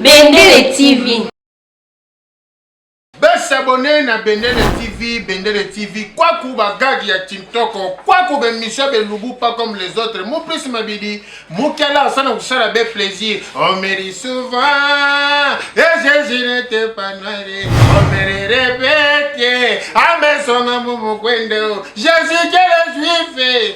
Bendele TV. Besabone na Bendele TV, Bendele TV, kwaku bagagi ya Tintoko, kwaku bemisio belubu pas comme les autres. Mon plus mabidi, mukela asana kusala be plaisir. On me dit souvent, et Jésus n'était pas noir, on me le répète, à mes sons, mon Jésus, quel juif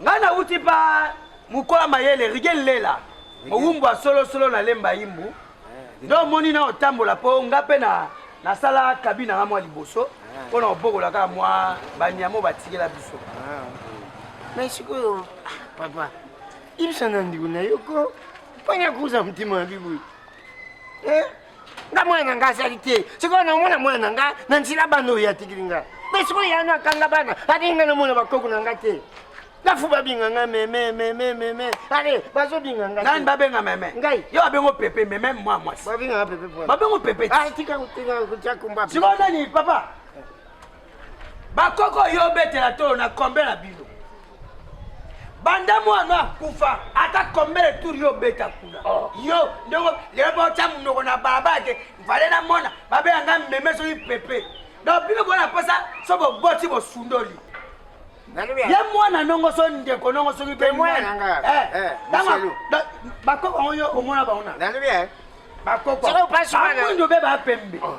ngai nauti pa mokola mayele rige lela mowumbu ya solosolo na lemba imbu eh, nde omoni na otambola mpo nga mpe na nasala kabi na nga mwa liboso eh. mpo na kobokola kaka mwa banyamo batikela biso ah. mai sikoyo ah, papa ibisa na ndeko na yo ko mpona kuza motema ya biboyi eh? nga mwana na nga azali te sikoyo namona mwana na nga na nzela bana oyo atikili nga mpe sikoyo yana akanga bana alingi nga namona bakoko na nga te lafu babinga nga meme meme meme ale bazobinga nga nani babenga meme ngai yo babengo pepe meme mwa mwasi babinga nga pepe babengo pepe ah, tika tika kumba sikoyo nani papa bakoko yo obetela tolo na kombe na bino banda mwana akufa ata kombe le tour yo obeta kuna oh. yo ndeko lelo baotya monoko na balabala te vale na mona babela nga meme soki pepe donc bino bona posa so boboti bosundoli ye mwana nongo so ndeko nongo soki pe mwana eh, eh, eh, bakoko yango yo omona bango na bakoko bakundo be bapembe oh.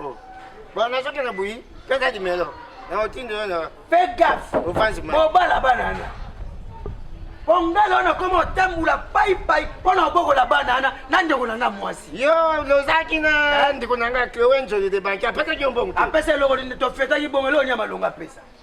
Oh. Bon, nazo kaka buyi, kaka dimelo. Na otindo yo na. Fais gaffe. Ofanzi ma. Obala bana na. Ongala na koma otambula pai pai pona obokola bana na na ndeko na nga mwasi. Yo lozaki na ndeko na nga Chloe Njoli de Banki apesa ki mbongo. Apesa eloko nini to feta ki bongo eloko nyama longa pesa.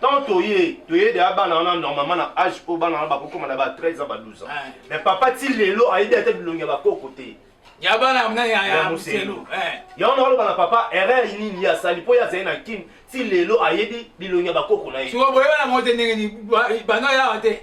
tant toye toye deya bana wana normalement na age oyo bana wana bakokoma na ba 13 ans ba 12 ans mais papa ti lelo ayebi ata bilongi ya bakoko te ya bana mna ya moselu yango nakoloba na papa erreur nini ye asali mpo ye azali na kin ti lelo ayebi bilongi ya bakoko na ye sikoyo boyebana moko te ndenge nini banda yawa te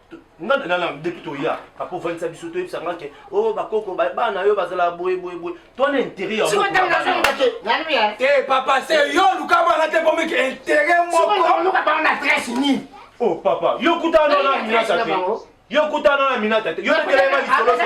nga na nana depuis toya papa ovandisa biso toyebisa nga ke o oh, bakoko bana yo bazala boye boye boye to na intérêt ya te eh, papa se yo oluka bana te po meke intérêt mokooluka bango na adresse nini o oh, papa yo kutana na minata te yo kutana na minata te yo nekelema lisolo te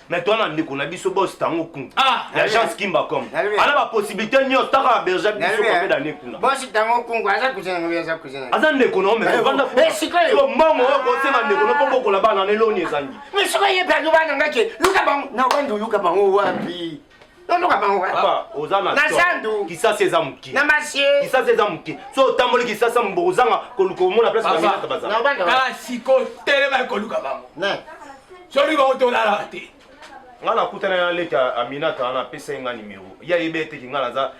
mais toi na ndeko na biso boss tango kun ah, l'agence kimba com ana ba possibilité nyo taka berger biso comme d'année kuna boss tango kun aza cousin na aza cousin aza ndeko na mais vanda ko siko mbongo ko sema ndeko na pombo ko la bana ne loni ezangi mais siko ye perdu bana ngake luka bango na bandu luka bango wapi tondoka bango na zandu kisasi eza moke na masie kisasi eza moke so otamboli kisasi ya moboko ozanga koluka omona place baminata bazalakala siko telema koluka bango soki bango tolalaka te ngai nakutana na leki aminata wana apesa ye ngai nimero ye ayebeteki ngai naza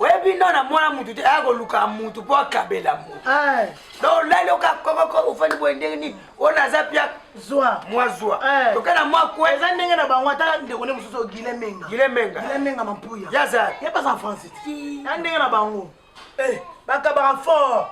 oyebi no na mwana mutu te aya koluka mutu mpo akabela mutu eh. donc olali oka kokoko ofandi boye ndenge nini oyo naza pia zwa mwa zwa eh. toke na mwa kwe eza ndenge na bango ata ndeko nde mosusu gile menga gile menga gile menga mampuya yaza ye baza en france ti ya ndenge na bango eh, bakabaka fort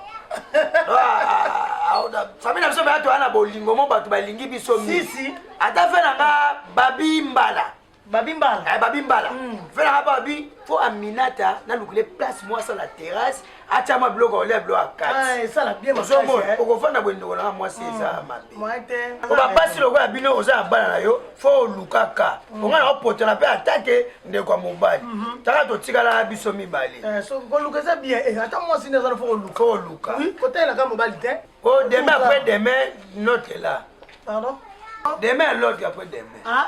ah, ah, famille na biso bato wana bolingo mo bato balingi biso misi ata fe na nga babi mbala babi mbala eh, babi mbala mm. fela hapa babi fo aminata nalukile place mwa asala terrasse atya mwa biloko olia biloko akatiozomona ah, eh. okofanda boye ndeko nanga mwasi mm. eza mabe po bapasi lokola bino oza na bana na yo fo olukaka mm. onga na opotana mpe atake ndeko ya mobali mm-hmm. taka totikala biso mibale eh, koluka eza bien eh, ata mwasi nde azana fo oluka oluka kotelaka mobali te o oh, demain après demain note la demain l'autre après demain ah?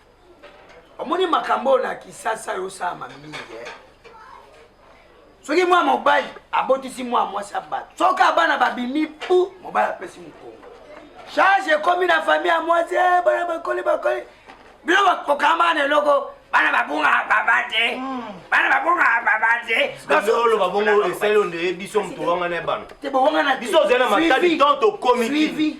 omoni makambo oyo na kisasa yosalama mingi eh? soki mwana mobali abotisi mwana mwasi ya bato soki abana babimi pu mobali apesi mokongo charge ekomi na famille ya mwasi eh, bana bakoli bakoli bino bakokamba na eloko bana babunga baba te hmm. bana babunga baba te oloba bongo esali onde biso moto wangana ya bana te bowangana biso ozali na matali tant okomi